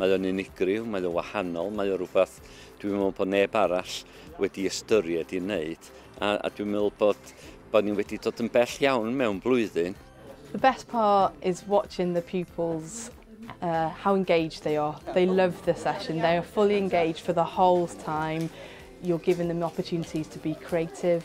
Mae o'n unigryw, mae o'n wahanol, mae o'n rhywbeth dwi'n meddwl bod neb arall wedi ystyried i wneud. A, a dwi'n meddwl bod, bod ni wedi dod yn bell iawn mewn blwyddyn. The best part is watching the pupils uh, how engaged they are. They love the session. They are fully engaged for the whole time. You're giving them opportunities to be creative.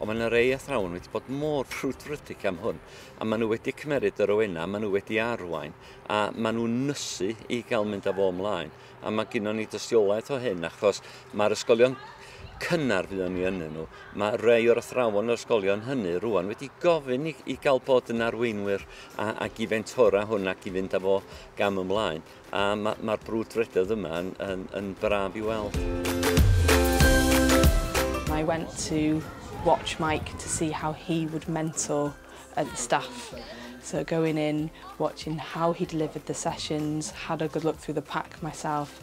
Ond mae 'na rei athrawon wedi bod mor frwdfrydig am hwn, a maen nhw wedi cymeryd yr oenau, maen nhw wedi arwain, a maen nhw'n nysu i gael mynd â fo ymlaen. A mae gynnwn ni dystiolaeth o hyn, achos mae'r ysgolion cynnar fuon ni ynnyn nhw, mae rei o'r athrawon o'r ysgolion hynny rwan wedi gofyn i, i gael bod yn arweinwyr a, ac i fentora hwn ac i fynd â fo gam ymlaen. a mae'r ma brwdfrydoedd yma yn, yn, yn braf i weld. I went to watch Mike to see how he would mentor uh, the staff. So going in, watching how he delivered the sessions, had a good look through the pack myself,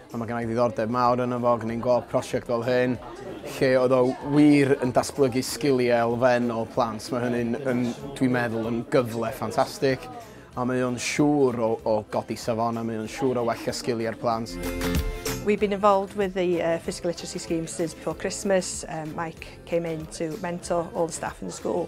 A mae gennai ddiddordeb mawr yno fo, gwneud gweld prosiect fel hyn, lle oedd o wir yn datblygu sgiliau elfennol plant. Mae hynny'n, yn, dwi'n meddwl, yn gyfle ffantastig, a mae o'n siŵr o, o godi safon a mae o'n siŵr o wella sgiliau'r plant. We've been involved with the uh, physical literacy scheme since before Christmas. Um, Mike came in to mentor all the staff in the school.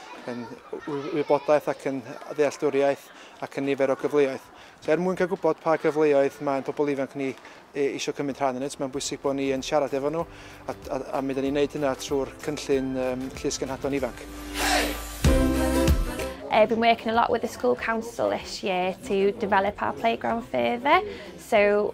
yn wybodaeth ac yn ddealltwriaeth ac yn nifer o gyfleoedd. So, er mwyn cael gwybod pa gyfleoedd mae pobl ifanc ni e, eisiau cymryd rhan yn ynt, mae'n bwysig bod ni yn siarad efo nhw a, a, a mi ydym ni'n gwneud hynna trwy'r cynllun um, Llys Gynhadon Ifanc. I've been working a lot with the school council this year to develop our playground further. So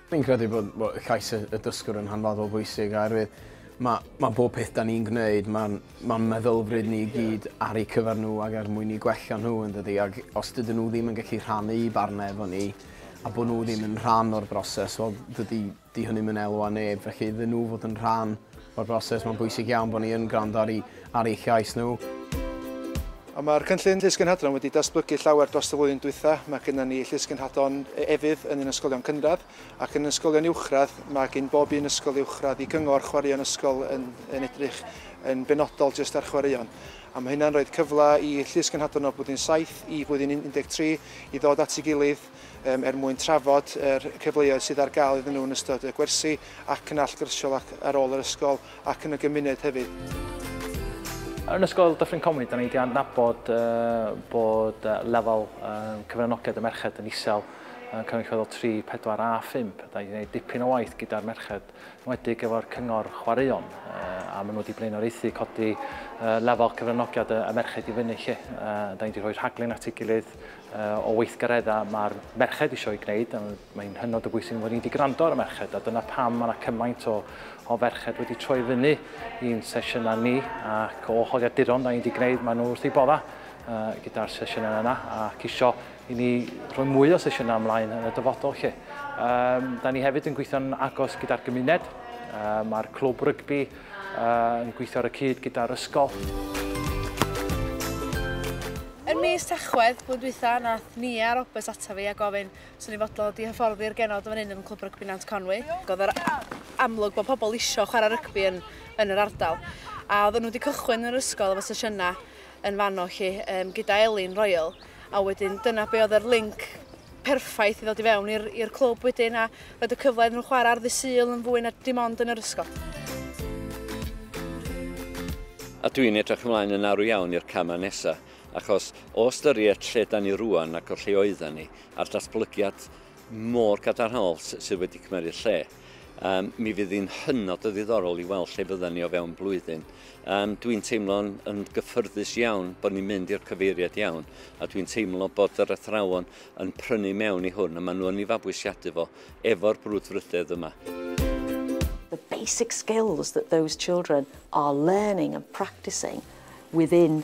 Fi'n credu bod, bod llais y, y dysgwr yn hanfodol bwysig oherwydd mae, mae bob peth da ni'n gwneud, mae'n ma meddylfryd ni i gyd ar eu cyfer nhw ac er mwyn i gwella nhw yn dydy. Ac os dydyn nhw ddim yn gallu rhannu i barnau efo ni a bod nhw ddim yn rhan o'r broses, wel dydy di hynny'n mynd elwa neb. Felly iddyn nhw fod yn rhan O'r broses, mae'n bwysig iawn bod ni yn gwrando ar, ar eu llais nhw. Ond mae'r cynllun llysgynhadron wedi datblygu llawer dros y flwyddyn dwytha. Mae gennym ni llysgynhadon e-, efydd yn ein ysgolion cynradd ac yn ysgolion uwchradd. Mae gen bob un ysgol uwchradd i gyngor chwaraeon ysgol yn, yn edrych yn benodol jyst ar chwaraeon. A mae hynna'n rhoi cyfle i llysgynhadon o blwyddyn 7 i flwyddyn 13 i ddod at ei gilydd er mwyn trafod yr cyfleoedd sydd ar gael iddyn nhw yn ystod y gwersi ac yn allgyrsiol ac ar ôl yr ysgol ac yn y gymuned hefyd. Yn Ysgol Dyffryn Conwy, da ni wedi adnabod bod lefel cyfranogiad y merched yn isel yn cynrychiol 3, 4 a 5. Da ni wedi gwneud dipyn o waith gyda'r merched, wedig efo'r cyngor chwaraeon, a maen nhw wedi blaenoriaethu codi lefel cyfranogiad y merched i fyny lle. Da ni wedi rhoi rhaglen at ei gilydd o weithgareddau mae'r merched eisiau ei gwneud, a mae'n hynod o bwysig bod ni wedi gwrando ar y merched, a dyna pam mae yna cymaint o, o ferched wedi troi fyny i'n sesiynau ni, ac o holiaduron da ni wedi gwneud, maen nhw wrth ei bodda uh, gyda'r sesiynau yna, ac isio i ni rhoi mwy o sesiynau ymlaen yn y dyfodol lle. Um, da ni hefyd yn gweithio'n agos gyda'r gymuned, uh, mae'r clwb rygbi Yn gweithio ar y cyd gyda'r ysgol. Yn mis Tachwedd blwyddyn dwytha nath Nia Roberts ata fi a gofyn os o'n i'n fodlon dod i hyfforddi'r genod yn fan hyn yn Clwb Rygbi Nant Conwy. O'dd yr amlwg bod pobl isio chwarae rygbi yn yn yr ardal a oedden nhw wedi cychwyn yr ysgol efo sesiynau yn fanno 'lly gyda Elin Royal a wedyn dyna be' oedd yr linc perffaith i ddod i fewn i'r clwb wedyn a roed y cyfle iddyn nhw chwarae ar ddydd Sul yn fwy na dim ond yn yr ysgol. A dwi'n edrych ymlaen yn arw iawn i'r camau nesaf, achos o ystyried lle da ni rwan ac o lle oedden ni, a'r datblygiad mor gadarnhaol sydd wedi cymryd lle, Um, mi fydd hi'n hynod o ddiddorol i weld lle fydden ni o fewn blwyddyn. Um, dwi'n teimlo'n yn gyffyrddus iawn bod ni'n mynd i'r cyfeiriad iawn a dwi'n teimlo bod yr athrawon yn prynu mewn i hwn a maen nhw yn ei fabwysiadu fo efo'r brwdfrydedd yma. The basic skills that those children are learning and practicing within